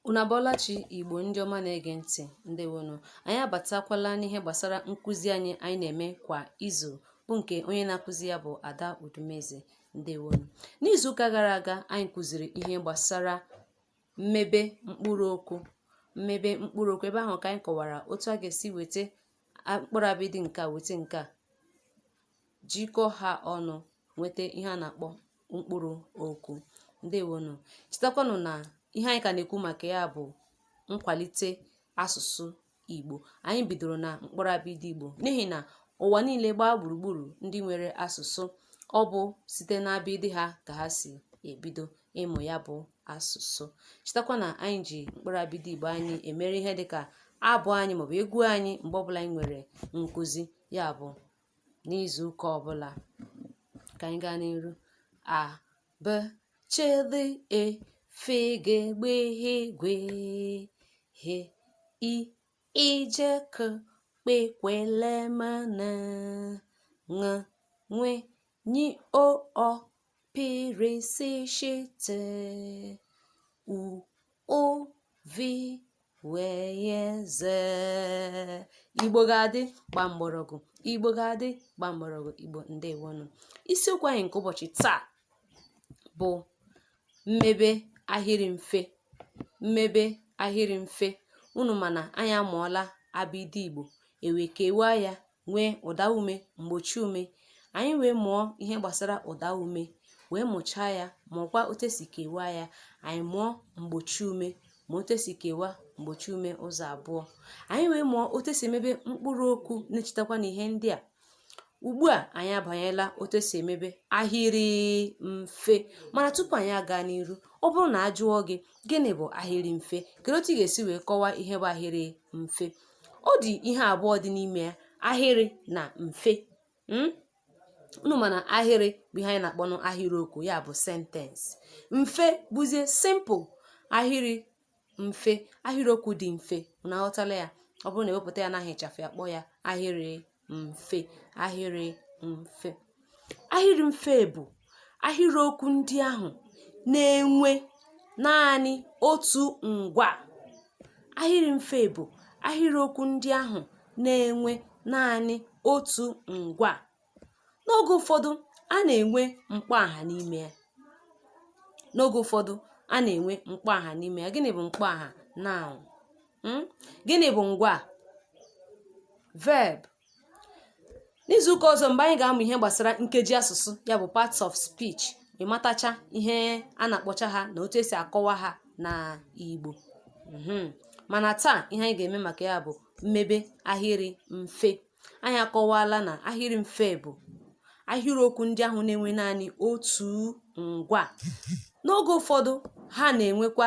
Unu abọọla chi Igbo ndị ọma na-ege ntị ndewonụ. Anyị abatakwala n'ihe gbasara nkụzi anyị anyị na-eme kwa izu bụ nke onye na-akụzi ya bụ Ada Udumeze ndewonụ. N'izuụka gara aga anyị kụziri ihe gbasara mmebe mkpụrụ okwu mmebe mkpụrụ okwu ebe ahụ ka anyị kọwara otu a ga-esi weta mkpụrụ abịdị nke a weta nke a jikọ ha ọnụ nweta ihe a na-akpọ mkpụrụ okwu ndewonụ chetakwanụ na ihe anyị ka na-ekwu maka ya bụ nkwalite asụsụ igbo anyị bidoro na mkpụrụ abịdị igbo n'ihi na ụwa niile gbaa gburugburu ndị nwere asụsụ ọ bụ site n'abịdị ha ka ha si ebido ịmụ ya bụ asụsụ chetakwa na anyị ji mkpụrụ abịdị igbo anyị emere ihe dịka abụ anyị maọbụ egwu anyị mgbe ọbụla anyị nwere nkụzi ya bụ n'izu ụka ọbụla ka anyị gaa n'iru a b ch d e f g gb gh gw h i ị j k kp kw l m n ṅ nw ny o ọ P r s sh t u ụ v w y z igbo ga-adị gbaa mgbọrọgwụ igbo ga-adị gbaa mgbọrọgwụ igbo ndewonụ isiokwu anyị nke ụbọchị taa bụ mmebe ahịrị mfe mmebe ahịrị mfe unu ma na anyị amụọla abịdị igbo e wee kewaa ya nwee ụdaume mgbochiume anyị wee mụọ ihe gbasara ụdaume wee mụchaa ya mụọkwa otu esi kewaa ya anyị mụọ mgbochiume ma otu esi kewaa mgbochiume ụzọ abụọ anyị wee mụọ otu esi emebe mkpụrụ okwu na-echetakwanụ ihe ndị a ugbu a anyị abanyela otu esi emebe ahịrị mfe mana tupu anyị aga n'iru ọ bụrụ na a jụọ gị gịnị bụ ahịrị mfe kedu otu ị ga-esi wee kọwaa ihe bụ ahịrị mfe ọ dị ihe abụọ dị n'ime ya ahịrị na mfe hmm? unu ma na ahịrị bụ ihe anyị na-akpọnụ ahịrịokwu ya bụ sentence mfe bụzie simple ahịrị mfe ahịrịokwu dị mfe unu aghọtala ya ọ bụrụ na e wepụta ya n'aha ịchafụ a kpọọ ya ahịrị mfe ahịrị mfe ahịrị mfe bụ ahịrị okwu ndị ahụ na-enwe naanị otu ngwaa ahịrị mfe bụ ahịrị okwu ndị ahụ na-enwe naanị otu ngwaa n'oge ụfọdụ a na-enwe mkpọaha n'ime ya n'oge ụfọdụ a na-enwe mkpọaha n'ime ya gịnị bụ mkpọaha noun Hmm? gịnị bụ ngwa verb n'izuụka ọzọ mgbe anyị ga-amụ ihe gbasara nkeji asụsụ ya bụ parts of speech ịmatacha ihe a na-akpọcha ha na otu esi akọwa ha na Igbo mhm. mana taa ihe anyị ga-eme maka ya bụ mmebe ahịrị mfe anyị akọwala na ahịrị mfe bụ ahịrịokwu ndị ahụ na-enwe naanị otu ngwa n'oge ụfọdụ ha na-enwekwa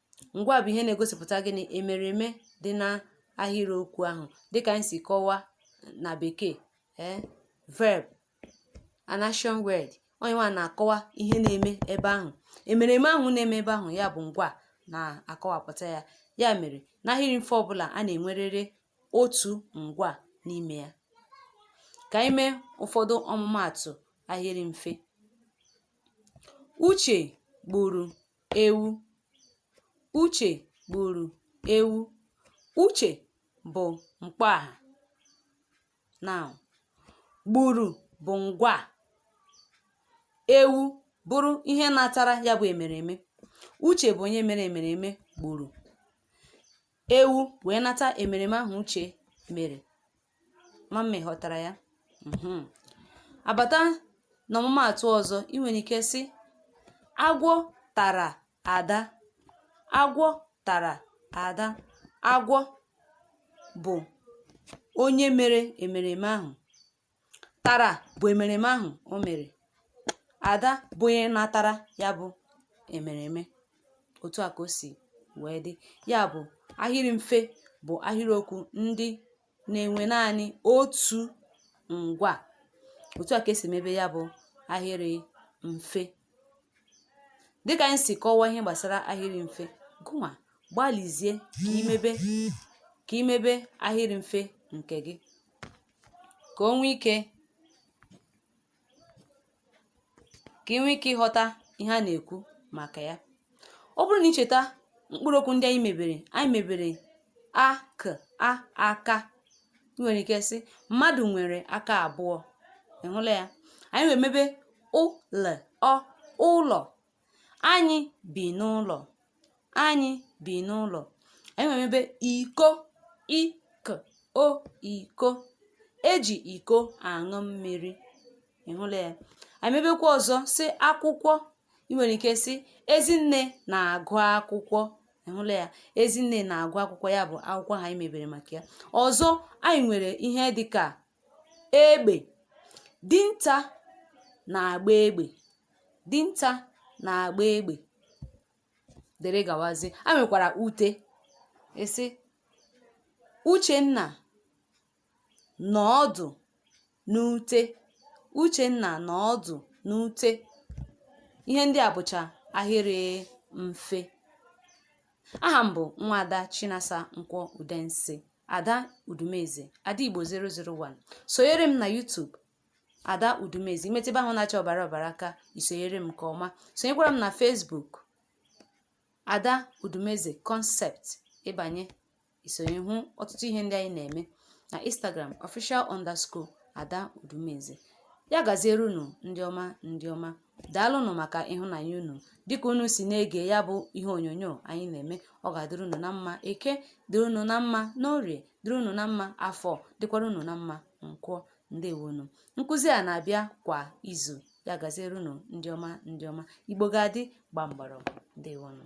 ngwa bụ ihe na-egosipụta gịnị emereme dị na ahịrịokwu ahụ dịka anyị si kọwa na bekee ee eh, verb an action word ọ ya nwa na-akọwa ihe na-eme ebe ahụ emereme ahụ na-eme ebe ahụ ya bụ ngwa na-akọwapụta ya ya mere n'ahịrị mfe ọbụla a na-enwerịrị otu ngwa n'ime ya ka anyị mee ụfọdụ ọmụmaatụ ahịrị mfe uche gburu ewu. Uche gburu ewu. Uche bụ mkpọaha. Noun. Gburu bụ ngwa. Ewu bụrụ ihe natara ya bụ emereme. Uche bụ onye mere emereme gburu. ewu wee nata emereme ahụ uche mere ama m ma ị ghọtara ya mhm. a bata na ọmụmaatụ ọzọ ị nwere ike sị agwọ tara ada agwọ tara ada agwọ bụ onye mere emereme ahụ tara bụ emereme ahụ o mere ada bụ onye natara ya bụ emereme otu a ka o si wee dị ya bụ ahịrị mfe bụ ahịrịokwu ndị na-enwe naanị otu ngwa otu a ka esi mebe ya bụ ahịrị mfe dịka anyị si kọwaa ihe gbasara ahịrị mfe gụnwa gbalịzie ka i mebe ka i mebe ahịrị mfe nke gị ka o nwee ike ka ị nwee ike ịghọta ihe a na-ekwu maka ya ọ bụrụ na i cheta mkpụrụ okwu ndị anyị mebere anyị mebere a k a aka ị nwere ike sị mmadụ nwere aka abụọ ị hụla ya anyị wee mebe ụ l ọ ụlọ Anyị bi n'ụlọ. Anyị bi n'ụlọ. Anyị were mebe iko i k o iko. E ji iko aṅụ mmiri. Ị hụla ya? Anyị mebekwa ọzọ sị akwụkwọ. Ị nwere ike sị Ezinne na-agụ akwụkwọ. Ị hụla ya? Ezinne na-agụ akwụkwọ ya bụ akwụkwọ ahụ anyị mebere maka ya. Ọzọ anyị nwere ihe dị ka egbe. Dinta na-agba egbe. dinta na-agba egbe dere gawazi a nwekwara ute ịsị uchenna nọ ọdụ n'ute uchenna nọ ọdụ n'ute ihe ndị a bụcha ahịrị mfe aha m bụ nwada chinasa nkwọ udensi ada udumeze ada igbo 001 sonyere m na youtube ada udumeze imetụ ebe ahụ na-acha ọbara ọbara aka isonyere m nke ọma sonyekwara m na Facebook ada udumeze concept ịbanye isonye hụ ọtụtụ ihe ndị anyị na-eme na Instagram official underscore ada udumeze ya gaziere unu ndị ọma ndị ọma daalụnụ maka ịhụnanya unu dịka unu si na-ege ya bụ ihe onyonyo anyị na-eme ọ ga-adịrị unu na mma eke dịrị unu na mma n'orie dịrị unu na mma afọ dịkwara unu na mma nkwọ ndewonu nkụzi a na-abịa kwa izu ya gaziere unu ndị ọma ndị ọma igbo ga-adị gba mgbọrọgwụ ndewonu